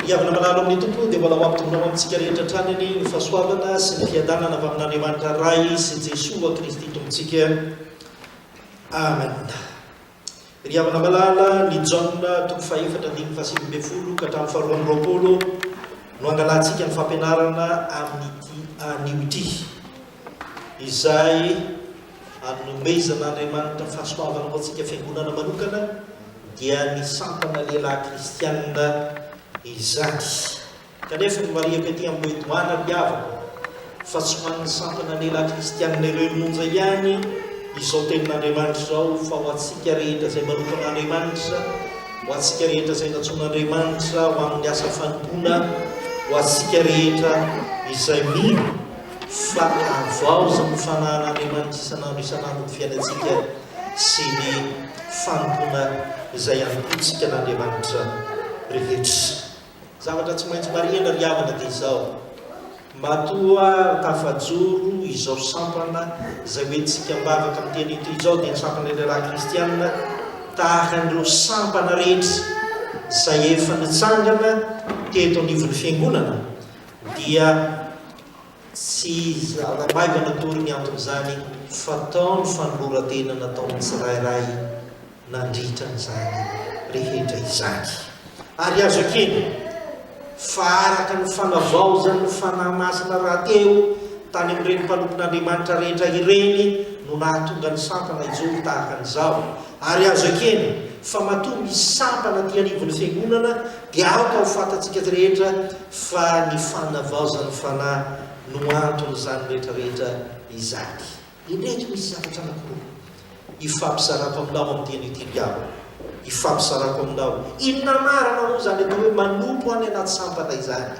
Ry havana malalo amin'ny Tompo, dia mbola ho hampidona ho amintsika rehetra hatrany anie ny fahasoavana sy ny fiadanana avy amin'Andriamanitra Ray sy Jesoa Kristy Tompontsika. Amena. Ry havana malala, ny Jaona toko fahefatra andininy fahasivy ambin'ny folo ka hatramin'ny faharoa amby roapolo no angalantsika ny fampianarana amin'ity anio ity. izay anomezan'Andriamanitra fahasoavana ho antsika fiangonana manokana, dia ny sampana lehilahy kristianina izany. Kanefa ny marihako ety amin'ny hoe doana ry havana, fa tsy ho an'ny sampana lehilahy kristianina irery monja ihany izao tenin'Andriamanitra izao, fa ho antsika rehetra izay manokan'Andriamanitra, ho antsika rehetra izay natsoin'Andriamanitra ho amin'ny asa fanompoana, ho antsika rehetra izay mino Fa havaozy ny fanahan'Andriamanitra isan'andro isan'andro ny fiainantsika sy ny fanompoana izay anompoantsika an'Andriamanitra rehetra. Zavatra tsy maintsy marihina ry havana dia izao, matoa tafajoro izao sampana izay hoentintsika am-bavaka amin'ny teny etoy izao dia ny sampan'ny lehilahy kristiana tahaka an'ireo sampana rehetra izay efa nitsangana teto anivon'ny Fiangonana dia tsy zara maivana akory ny anton'izany fa tao ny fanoloran-tena nataon'ny tsirairay nandritra an'izany rehetra izany. Ary azo ekena fa araka ny fanavaozan'ny Fanahy Masina rahateo tany amin'ireny mpanompon'Andriamanitra rehetra ireny no nahatonga ny sampana hijoro tahaka an'izao, Ary azo ekena fa matoa misy sampana aty anivon'ny fiangonana dia aoka ho fantatsika rehetra fa ny fanavaozan'ny fanahy no anton'izany rehetra rehetra izany. Indreto misy zavatra anankiroa hifampisarako aminao amin'ity anio ity ry havana, hifampisarako aminao, inona marina moa izany atao hoe manompo any anaty sampana izany?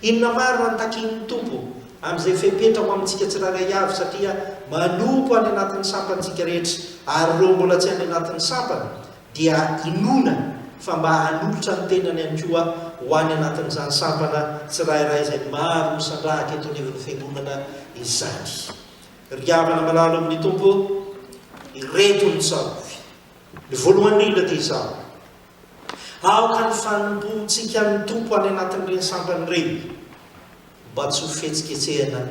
Inona marina no takian'ny Tompo amin'izay fepetra ho amintsika tsirairay avy, satria manompo any anatin'ny sampantsika rehetra, ary ireo mbola tsy any anatin'ny sampany dia inoana fa mba hanolotra ny tenany ihany koa ho any anatin'izany sampana tsirairay izay maro misandrahaka eto anivon'ny Fiangonana izany. Ry havana malalo amin'ny Tompo, ireto ny tsarovy. Ny voalohany indrindra dia izao. Aoka ny fanompoantsika ny Tompo any anatin'ireny sampana ireny, mba tsy ho fihetsiketsehana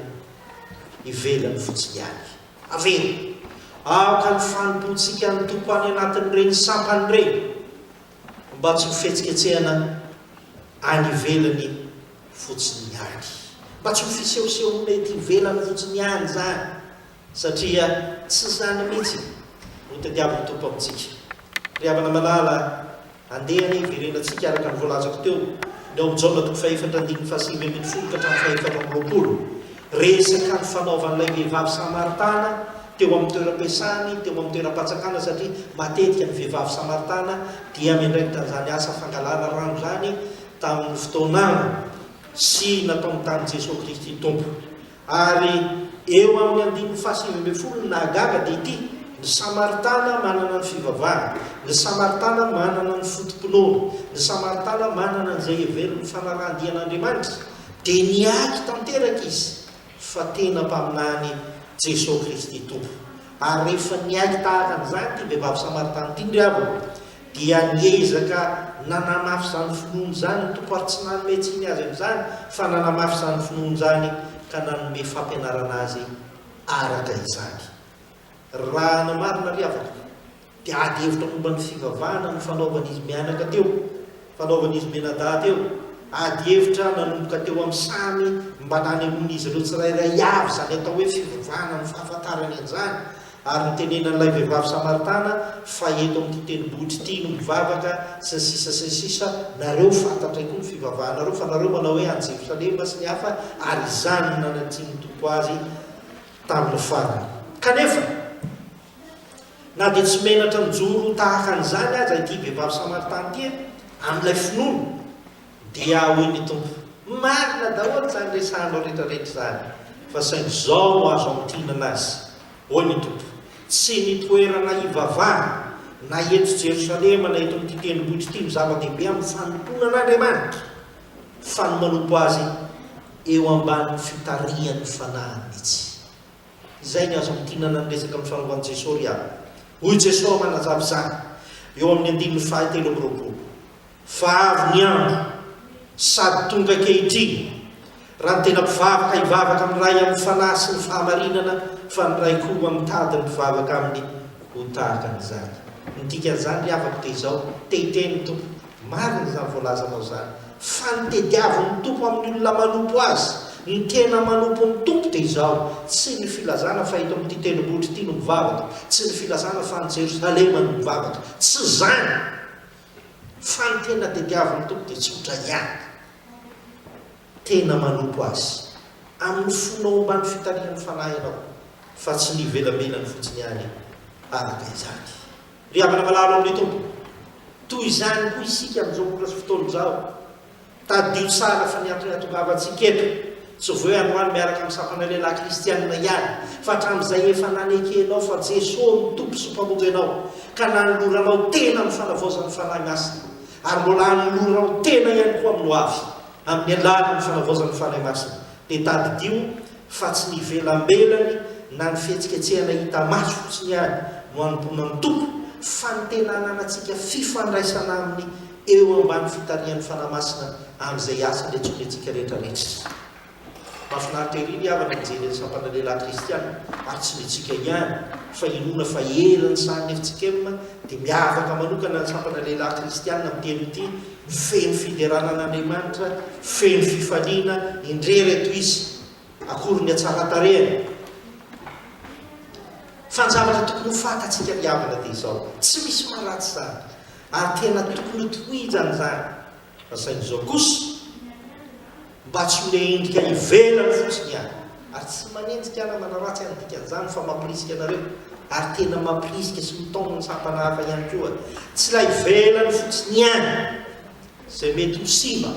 ivelany fotsiny ihany. Avereno, Aoka ny fanompoantsika ny Tompo any anatin'ireny sampana ireny, mba tsy ho fihetsiketsehana any ivelany fotsiny ihany. Mba tsy ho fisehosehoana ety ivelany fotsiny ihany izany, Satria tsy izany mihitsy no tadiavin'ny Tompo amintsika. Ry havana malala, andeha anie hiverenantsika araka ny voalazako teo ny ao Jaona toko fahefatra andininy fahasivy ambin'ny folo ka hatramin'ny fahefatra amby roapolo. Resaka ny fanaovan'ilay vehivavy samaritana teo amin'ny toeram-piasany, teo amin'ny toeram-patsakana, satria matetika ny vehivavy samaritana dia miandraikitra an'izany asa fangalana rano izany tamin'ny fotoana sy nataony tamin'i Jesoa Kristy Tompo. Ary eo amin'ny andininy fahasivy ambin'ny folo ny nahagaga dia ity, Ny Samaritana manana ny fivavahany, ny Samaritana manana ny foto-pinoany, ny Samaritana manana an'izay heveriny ho fanarahan-dia an'Andriamanitra, dia niaky tanteraka izy fa tena mpaminanin' i Jesoa Kristy Tompo. Ary rehefa niaky tahaka an'izany ity vehivavy Samaritana ity, ry havana, dia niezaka nanamafy izany finoany izany ny Tompo ary tsy nanome tsiny azy amin'izany fa nanamafy izany finoany izany ka nanome fampianarana azy araka izany. Raha ny marina ry havako dia ady hevitra momba ny fivavahana no fanaovan'izy mianaka teo, fanaovan'izy mianadahy teo, ady hevitra nanomboka teo amin'ny samy mba nanehoan'izy ireo tsirairay avy izany atao hoe fivavahana amin'ny fahafantarany an'izany, Ary nitenenan'ilay vehivavy Samaritana fa eto amin'ity tendrombohitra ity no mivavaka, sy ny sisa sy ny sisa, nareo fantatray koa ny fivavahanareo, fa nareo manao hoe any Jerosalema sy ny hafa, ary izany no nanatrin'ny Tompo azy tamin'ny farany. Kanefa, na dia tsy menatra mijoro tahaka an'izany aza ity vehivavy Samaritana ity amin'ilay finoana, Dia hoy ny Tompo, Marina daholo izany resahanao rehetrarehetra izany, fa saingy izao no azo antonina azy, hoy ny Tompo, Tsy ny toerana hivavahana, na eto Jerosalema na eto amin'ity tendrombohitra ity no zava-dehibe amin'ny fanompoanan'Andriamanitra, fa ny manompo Azy eo ambanin'ny fitarihan'ny fanahiny mihitsy. Izay ny azo antonana ny resaka mifanovan'i Jesoa ry havana. Hoy Jesoa manazava izany eo amin'ny andininy fahatelo amby roapolo. Fa avy ny andro, sady tonga ankehitriny, raha ny tena mpivavaka hivavaka amin'ny Ray amin'ny Fanahy sy ny fahamarinana, fa ny Ray koa mitady ny mpivavaka Aminy ho tahaka ny Zaza. Ny dikan'izany, ry havako, dia izao, te hiteny ny Tompo, marina izany voalazanao izany, fa ny tediavin'ny Tompo amin'ny olona manompo Azy, ny tena manompo ny Tompo, dia izao, tsy ny filazana fa eto amin'ity tendrombohitra ity no mivavaka, tsy ny filazana fa any Jerosalema no mivavaka, tsy izany! Fa ny tena tediavin'ny Tompo dia tsotra ihany, tena manompo Azy amin'ny fonao ambany fitarihan'ny Fanahy ianao, fa tsy ny ivelambenany fotsiny ihany araka izany. Ry havana malalo amin'ny Tompo, toy izany koa isika amin'izao ora sy fotoana izao. Tadidio tsara fa ny antony hahatongavantsika eto, tsy vao androany miaraka amin'ny sampana lehilahy kristianina ihany, fa hatramin'izay efa nanekenao fa Jesoa no Tompo sy Mpamonjy anao, ka nanoloranao tena amin'ny fanavaozan'ny Fanahy Masina, ary mbola hanoloranao tena ihany koa amin'ny hoavy, amin'ny alalan'ny fanavaozan'ny Fanahy Masina. Dia tadidio fa tsy ny ivelambelany na ny fihetsiketsehana hita maso fotsiny ihany no hanompoana ny Tompo, fa ny tena hananantsika fifandraisana Aminy, Eo ambany fitarihan'ny Fanahy Masina amin'izay asa an'intsony antsika rehetra rehetra izy. Mahafinaritra ery ny havana mijery an'ny sampana lehilahy kristiana, ary tsy ny antsika ihany, fa inoana fa eran'ny sahan'ny FCKM dia miavaka manokana ny sampana lehilahy kristiana amin'ny teny ity, feno fiderana an'Andriamanitra, feno fifaliana, indrery eto izy, akory ny hatsaran-tarehany. Fa ny zavatra tokony ho fantatsika ry havana dia izao, tsy misy maharatsy izany. Ary tena tokony ho tohizany izany fa saingy izao kosa mba tsy ho le endrika ivelany fotsiny ihany ary tsy manenjika na manaratsy an'ny dikan'izany fa mampirisika anareo ary tena mampirisika sy mitaona ny sampana hafa ihany koa tsy ilay ivelany fotsiny ihany izay mety ho simba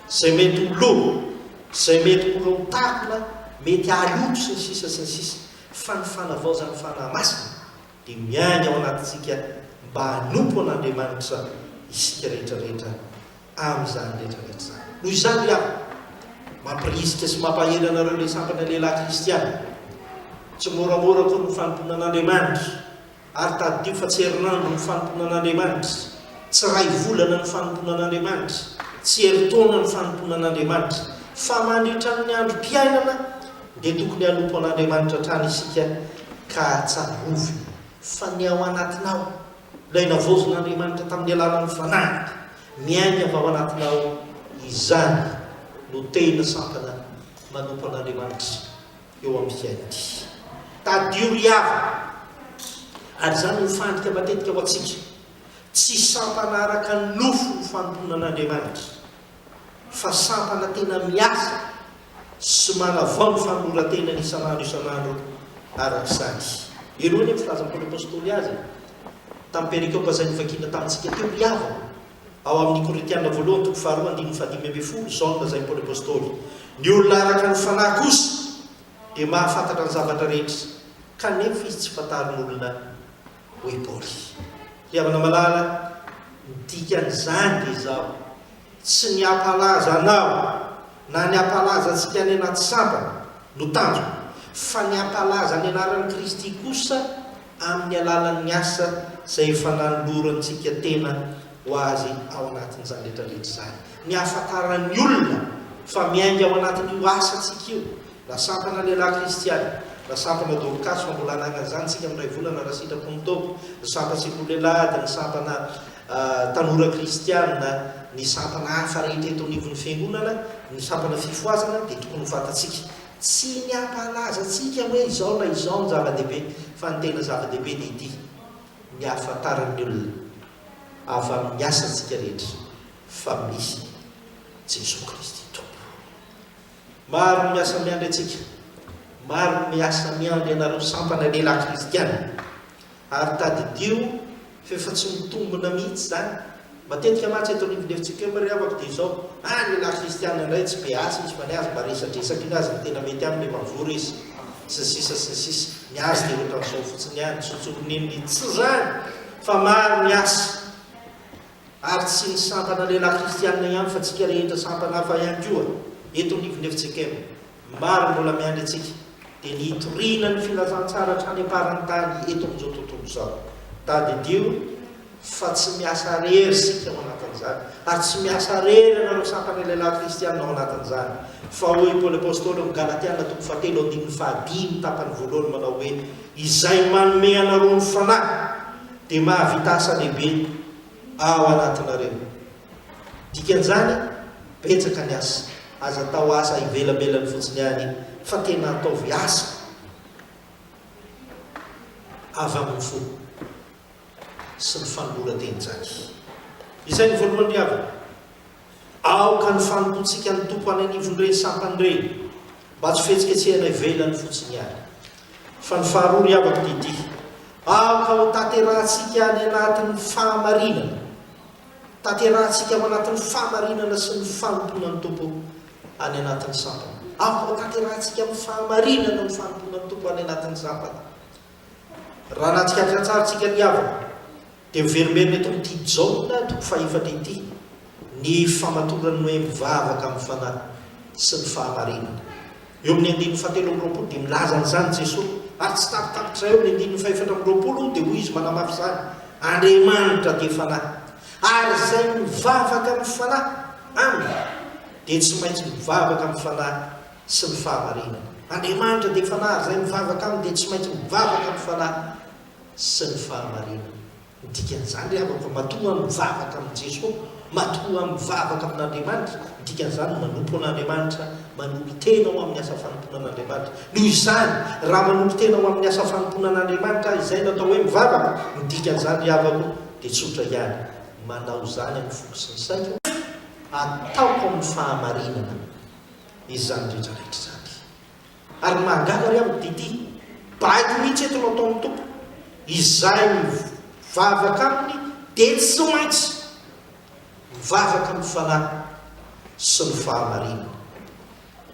izay mety ho lo izay mety ho lontakona mety haloto sy ny sisa sy ny sisa fa ny fanavaozan'ny fanahy masina Dia miahy ao anatintsika mba hanompo an'Andriamanitra isika rehetra rehetra amin'izany rehetra rehetra izany. Noho izany ry havana, mampirisika sy mampahery anareo ilay sampana lehilahy kristiana. Tsy moramora akory ny fanompoana an'Andriamanitra, ary tadidio fa tsy herinandro ny fanompoana an'Andriamanitra, tsy iray volana ny fanompoana an'Andriamanitra, tsy herintaona ny fanompoana an'Andriamanitra, fa mandritra ny androm-piainana, Dia tokony hanompo an'Andriamanitra hatrany isika ka tsarovina fa ny ao anatinao, ilay navaozin'Andriamanitra tamin'ny alalan'ny Fanahiny miaina avy ao anatinao, izany no tena sampana manompo an'Andriamanitra eo amin'ny fiainantsika. Tadidio ry havana, ary izany no fandrika matetika ho antsika, tsy sampana araka ny nofo ny fanompoana an'Andriamanitra. fa sampana tena miasa sy manavao ny fanoloran-tenany isan'andro isan'andro araka izany. Ireo anie ny filazan'ny Paoly Apostoly azy e! Tamin'ny perikopa izay novakina tamintsika teo, ry havana, ao amin'ny Korintiana voalohany toko faharoa andininy fahadimy ambin'ny folo, izao no lazain'i Paoly Apostoly, Ny olona araka ny fanahy kosa dia mahafantatra ny zavatra rehetra, kanefa izy tsy fantarin'olona hoy Paoly. Ry havana malala, ny dikan'izany dia izao, tsy ny hampalaza anao na ny hampalaza antsika any anaty sampana no tanjona, fa ny hampalaza ny anaran'i Kristy kosa amin'ny alalan'ny asa izay efa nanolorantsika tena ho Azy ao anatin'izany rehetrarehetra izany, ny hahafantaran'ny olona fa miainga ao anatin'io asantsika io. La sampana lehilahy kristiana. La sampana Dorcas fa mbola hanangana izany isika amin'ny iray volana raha sitrapo ny Tompo. Ny sampan sekoly lehilahy ady, ny sampana tanora kristiana, ny sampana hafa rehetra eto anivon'ny fiangonana, ny sampana fifohazana dia tokony ho fantatsika. Tsy ny hampahalaza antsika hoe izao na izao no zava-dehibe fa ny tena zava-dehibe dia ity, ny hahafantaran'ny olona avy amin'ny asantsika rehetra fa misy Jesoa Kristy Tompo. Maro ny miasa miandry antsika. Maro ny miasa miandry anareo sampana lehilahy kristiana. Ary tadidio fa efa tsy mitombina mihitsy izany. Matetika mantsy eto anivon'ny FCPM ry havako dia izao, ah lehilahy kristiana indray tsy be asa izy fa ny azy mba resadresaka iny azy no tena mety aminy efa mivory izy. Sy ny sisa sy ny sisa. Ny azy dia ohatran'izao fotsiny ihany, tsotsorin'iny mihitsy. Tsy izany fa maro ny asa. ary tsy ny sampana lehilahy kristianina ihany fa tsika rehetra sampana hafa ihany koa eto amin'ny Ivonefitsekm maro mbola miandry antsika dia ny hitoriana ny filazantsara hatrany am-parantany eto amin'izao tontolo izao. Tadidio fa tsy miasa rery isika ao anatin'izany ary tsy miasa rery ianareo sampana lehilahy kristianina ao anatin'izany fa hoy i Paoly Apostoly ao amin'ny Galatiana toko fahatelo andininy fahadimy tapany voalohany manao hoe izay manome anareo ny fanahy dia mahavita asa lehibe ao anatinareo. Dikan'izany, betsaka ny asa. Aza atao asa ivelabelany fotsiny ihany fa tena ataovy asa avy amin'ny fo sy ny fanoloran-teny tsara. Izay ny voalohany ry havana. Aoka ny fanompoantsika ny Tompo any anivon'ireny sampana ireny, mba tsy fihetsiketsehana ivelany fotsiny ihany. Fa ny faharoa, ry havako, dia ity, aoka hotanterahantsika any anatin'ny fahamarinana. Tanterahantsika ao anatin'ny fahamarinana sy ny fanompoana ny Tompo any anatin'ny sampana. Aoka hotanterahantsika amin'ny fahamarinana ny fanompoana ny Tompo any anatin'ny sampana. Raha nahatsikaritra tsara isika, ry havako, Dia hoverimberina eto amin'ity Jaona toko fahefatra ity ny famatoran'ny hoe mivavaka amin'ny fanahy sy ny fahamarinana. Eo amin'ny andininy fahatelo amby roapolo dia milaza an'izany Jesoa, ary tsy tapitapitra eo amin'ny andininy fahefatra amby roapolo dia hoy Izy manamafy izany, Andriamanitra dia fanahy, ary izay mivavaka amin'ny fanahy Aminy dia tsy maintsy mivavaka amin'ny fanahy sy ny fahamarinana. Andriamanitra dia fanahy, ary izay mivavaka Aminy dia tsy maintsy mivavaka amin'ny fanahy. sy ny fahamarinana. Ny dikan'izany ry havako, matoa mivavaka amin'i Jeso, matoa mivavaka amin'Andriamanitra, ny dikan'izany manompo an'Andriamanitra, manompo tena ho amin'ny asa fanompoana an'Andriamanitra. Noho izany, raha manompo tena ho amin'ny asa fanompoana an'Andriamanitra aho, izay no atao hoe mivavaka, ny dikan'izany ry havako dia tsotra ihany, manao izany amin'ny foko sy ny saiko, ataoko amin'ny fahamarinana izany rehetra rehetra izany. Ary mahagaga re amiko TT, baiko mihitsy eto no ataon'ny Tompo, izahay mivavaka aminy dia tsy maintsy mivavaka amin'ny Fanahy sy ny fahamarinana.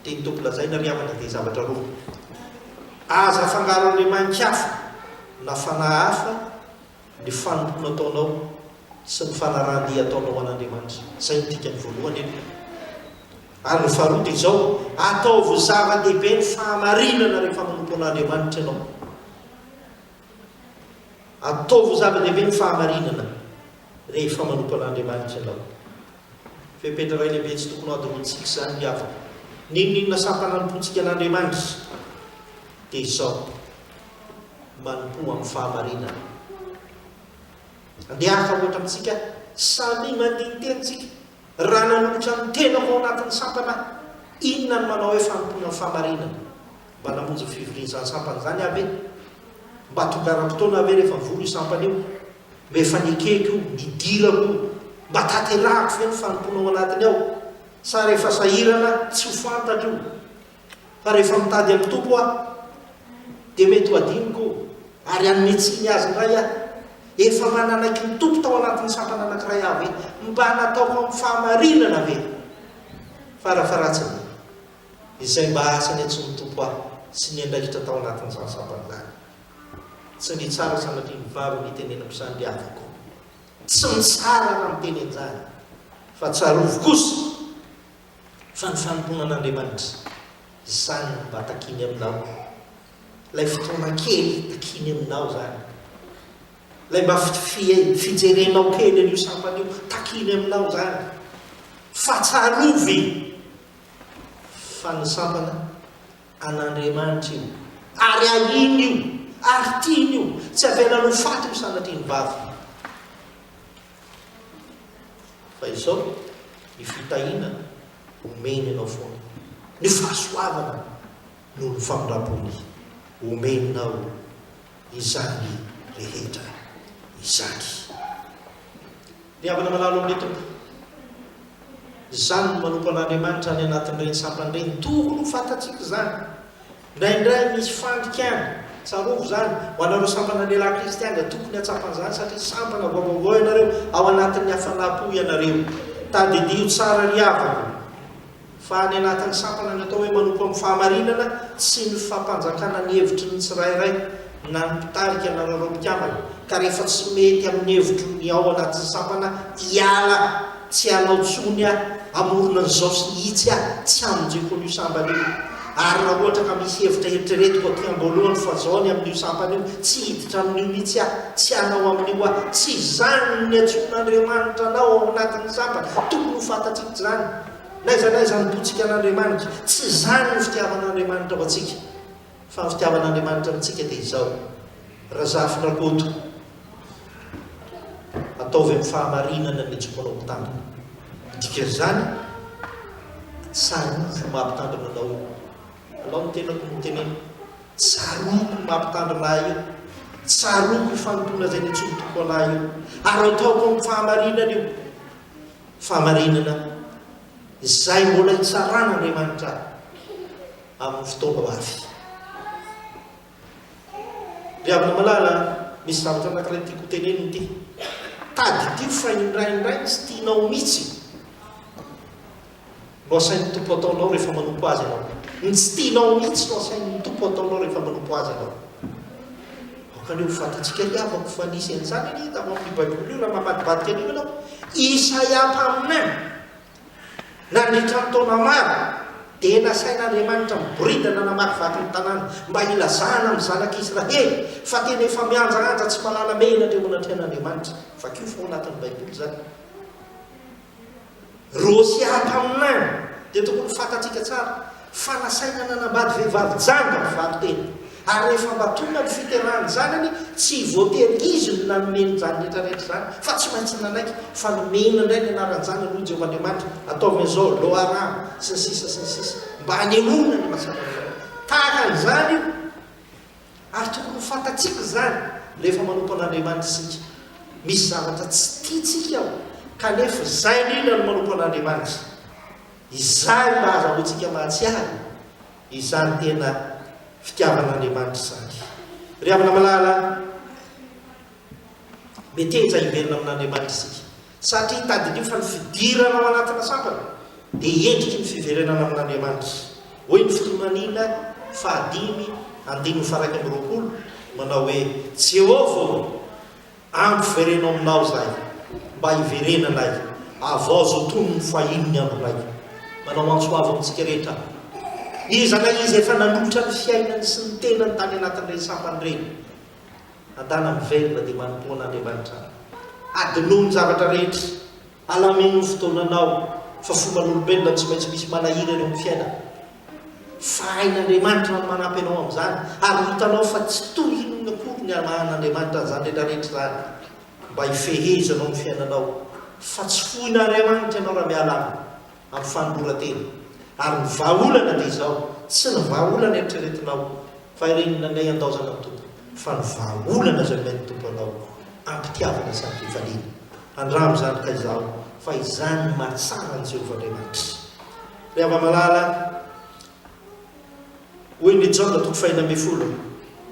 Tian'ny Tompo lazaina ry havana dia zavatra roa, aza afangaro andriamani-kafa na fanahy hafa Ny fanompoana ataonao sy ny fanarahan-dia ataonao ho an'Andriamanitra. Izay no dikany voalohany eto. Ary ny faharoa dia izao, ataovy zava-dehibe ny fahamarinana rehefa manompo an'Andriamanitra ianao. Ataovy zava-dehibe ny fahamarinana rehefa manompo an'Andriamanitra ianao. Fepetra iray lehibe tsy tokony hadinoantsika izany ny havana. N'inon'inona sampana anompoantsika an'Andriamanitra dia izao. manompoa amin'ny fahamarinana. Andeha hafa ohatra amintsika, samia mandiny teny tsika, raha nanolotra ny tenako ao anatin'ny sampana aho, inona no manao hoe fanompoana amin'ny fahamarinana? Mba namonjy ny fivorian'izany sampana izany aho ve? Mba tongaram-potoana aho ve rehefa mivory io sampana io? Mba efa nekeko io, nidirako io, mba tanterahako ve ny fanompoana ao anatiny ao? Sa rehefa sahirana, tsy ho fantatro io? Fa rehefa mitady an'i Tompo aho, dia mety ho adinoko ary hanome tsiny Azy indray aho. Efa mananaiky ny Tompo tao anatin'ny sampana anankiray aho ve? Mba nataoko amin'ny fahamarinana ve? Farafaharatsiny, izay mba asa niantsoan'ny Tompo ahy sy niandraikitra tao anatin'izany sampana izany. Tsy nitsara sanatria ny vavany hitenenako izany ry havako. Tsy nitsara aho namiteny an'izany, fa tsarovy kosa. Fa ny fanompoana an'Andriamanitra, izany no mba takiny aminao. Ilay fotoana kely takiny aminao izany. Ilay mba fijerenao kely an'io sampana io, takiny aminao izany. Fa tsarovy fa ny sampana an'Andriamanitra io, ary ahiny io, ary tiany io, tsy avelany ho faty io sanatria ny vavy. Fa izao ny fitahiana omeny anao foana, ny fahasoavana noho ny famindram-pony omenao izany rehetra izany. Ry havana malalo amin'ny Tompo, izany no manompo an'Andriamanitra any anatin'ireny sampany ireny, tokony ho fantatsika izany. Indraindray misy fandikana, tsarovy izany, ho anareo sampana lehilahy kristiana, tokony hahatsapa an'izany satria sampana vao vaovao ianareo, ao anatin'ny hafanam-po ianareo. Tadidio tsara ry havana, fa any anatin'ny sampana ny atao hoe manompo amin'ny fahamarinana sy ny fampanjakana ny hevitry ny tsirairay, na ny mpitarika na nareo mpikambana ka rehefa tsy mety amin'ny hevitro ny ao anatin'ny sampana hiala tsy hanao tsony aho hamorona an'izao sy ny itsy aho tsy hamonjeko an'io sambana io ary raha ohatra ka misy hevitra heritreretiko aty amboalohany fa zao ny amin'io sampana io tsy hiditra amin'io mitsy aho tsy hanao amin'io aho tsy izany ny niantsoan'Andriamanitra anao ao anatin'ny sampana tokony ho fantatsika izany naiza naiza ny botsika an'Andriamanitra tsy izany ny fitiavan'Andriamanitra ho antsika Fa ny fitiavan'Andriamanitra amintsika dia izao, Razafindrakoto, ataovy amin'ny fahamarinana ny jokonao mpitandrina. Ny dikan'izany, tsarovy ny maha mpitandrina anao io. Alao ny tenako no hoteneniko, tsarovy ny maha mpitandrina ahy io, tsarovy ny fanompoana izay nitsorom-poko an'ahy io, ary ataoko amin'ny fahamarinana io. Fahamarinana izay mbola hitsaràn'Andriamanitra ahy. amin'ny fotoana mafy. Ry havana malala, misy zavatra anankiray tiako hotenenina ity. Tadidio fa indraindray tsy tianao mihitsy no asain'ny Tompo ataonao rehefa manompo Azy ianao. Ny tsy tianao mihitsy no asain'ny Tompo ataonao rehefa manompo Azy ianao. Aoka anie ho fantatsika ry havako fa nisy an'izany anie tamin'ny Baiboly io raha mamadibadika an'io ianao. Isaia mpaminany. Nandritra ny taona maro, dia nasain'Andriamanitra miboridana hanamary vato ny tanàna, mba hilazana amin'ny zanak'i Israely fa tena efa mihanjahanja tsy mahalala mehina indray eo anatrehan'Andriamanitra. Vakio fa ao anatin'ny Baiboly izany. Rosià mpaminany, dia tokony ho fantatsika tsara Fa nasaina nanambady vehivavy jamba ny valinteny, ary rehefa mba tonga ny fiterahany zanany, tsy voatery izy no nanome ny janiny retraretra izany, fa tsy maintsy nanaiky fa nomena indray ny anaran-janany hoy Jehovah Andriamanitra, ataovy an'izao, Lo-Aram, sy ny sisa sy ny sisa, mba hanehoana ny maha-sambatra azy. Tahaka an'izany io, ary tokony ho fantatsika izany rehefa manompo an'Andriamanitra isika. Misy zavatra tsy tiantsika ao, kanefa izay indrindra no manompo an'Andriamanitra. Izany mba ahazahoantsika mahatsiaro izany tena fitiavan'Andriamanitra izany. Ry havana malala, meteza hiverina amin'Andriamanitra isika, satria tadidio fa ny fidirana ao anatina sampana dia endriky ny fiverenana amin'Andriamanitra. Hoy ny fitonoanina fahadimy andininy faharaika amby roapolo, manao hoe, Jehovah ô! Ampivereno aminao zay mba hiverenanay havaozo toy ny fahiny ny andronay. Manao antso ho avo amintsika rehetra iza na iza efa nanolotra ny fiainany sy ny tenany tany anatin'ireny sampana ireny. Adala miverina dia manompoana Andriamanitra. Adinoy ny zavatra rehetra. Alamino ny fotoananao fa fomban'olombelona tsy maintsy misy manahira eo amin'ny fiainana. Fa hain'Andriamanitra ny manampy anao amin'izany ary hitanao fa tsy tohin'olona akory ny hamahan'Andriamanitra an'izany rehetrarehetra izany mba hifehezanao ny fiainanao fa tsy foin'Ariamanitra ianao raha miala aminy. amin'ny fanoloran-tena. Ary ny vahaolana dia izao, tsy ny vahaolana eritreretinao fa ireny nandeha handaozana ny Tompo, fa ny vahaolana izay omen'ny Tompo anao am-pitiavana sy am-pifaliana. Andramo izany ka izaho, fa izany no mahatsara an'i Jehovah Andriamanitra. Ry hava-malala, Hoy ny Jaona toko fahiny ambin'ny folo,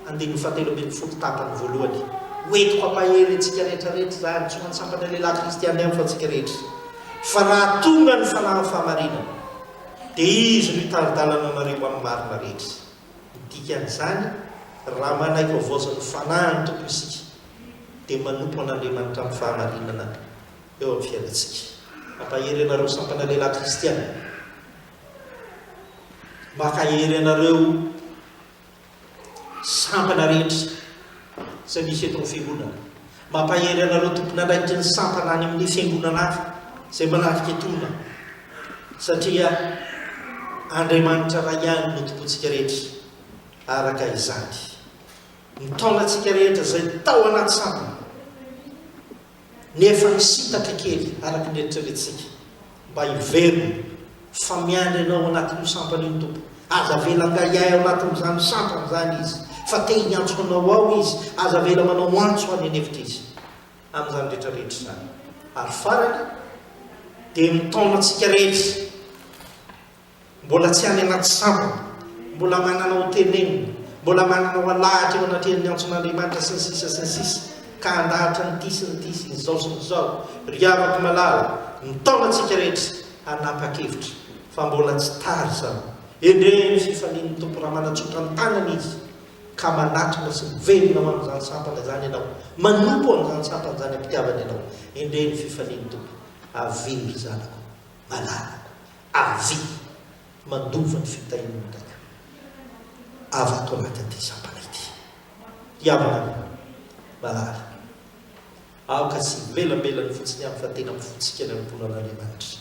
andininy fahatelo ambin'ny folo tapany voalohany, Ho entiko hampahery antsika rehetra rehetra izany, tsy ho an-tsampana lehilahy kristiana ihany fa antsika rehetra, fa raha tonga ny fanahin'ny fahamarinana, dia Izy no hitari-dalana anareo amin'ny marina rehetra. Ny dikan'izany, raha manaiky havaozan'ny Fanahin'ny Tompo isika, dia manompo an'Andriamanitra amin'ny fahamarinana eo amin'ny fiainantsika. Hampahery anareo sampana lehilahy kristiana. Maka hery anareo sampana rehetra izay misy eto amin'ny fiangonana. Mampahery anareo tompon'andraikitry ny sampana any amin'ny fiangonana hafa izay manafika etona satria Andriamanitra iray ihany no tompontsika rehetra araka izany. Mitaona antsika rehetra izay tao anaty sampana Nefa nisintaka kely araka ny eritreretintsika mba hiverina fa miandry anao ao anatin'io sampana io ny Tompo. Aza avela angahiahy ao anatin'izany sampana izany Izy fa te hiantso anao ao Izy. Aza avela manao antso any an'efitra Izy amin'izany rehetra rehetra izany. Ary farany dia ny taona antsika rehetra. Mbola tsy any anaty sambony, mbola manana ho tenenina, mbola manana ho alahatra eo anatrehan'ny antson'Andriamanitra sy ny sisa sy ny sisa ka handahatra an'ity sy n'ity sy n'izao sy n'izao, ry havako malala, mitaona antsika rehetra hanapa-kevitra fa mbola tsy tara izany. Endrey ny fifalian'ny Tompo raha manatsotra ny tanany Izy ka manatona sy miverina ho amin'izany sampana izany ianao, manompo an'izany sampana izany am-pitiavana ianao. Endrey ny fifalian'ny Tompo. Avia ry zanako malalako. Azy mandova ny fitahian'ny taiko avy ato anatin'ity sampana ity. Ry havana min'ny malala, aoka tsy hivelambelan'ny fotsiny aho fa tena mifotsika ny ankohonan'Andriamanitra,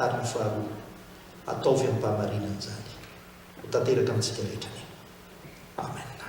ary ny faharoa, ataovy amim-pahamarinana izany ho tanteraka amintsika rehetra. Amena.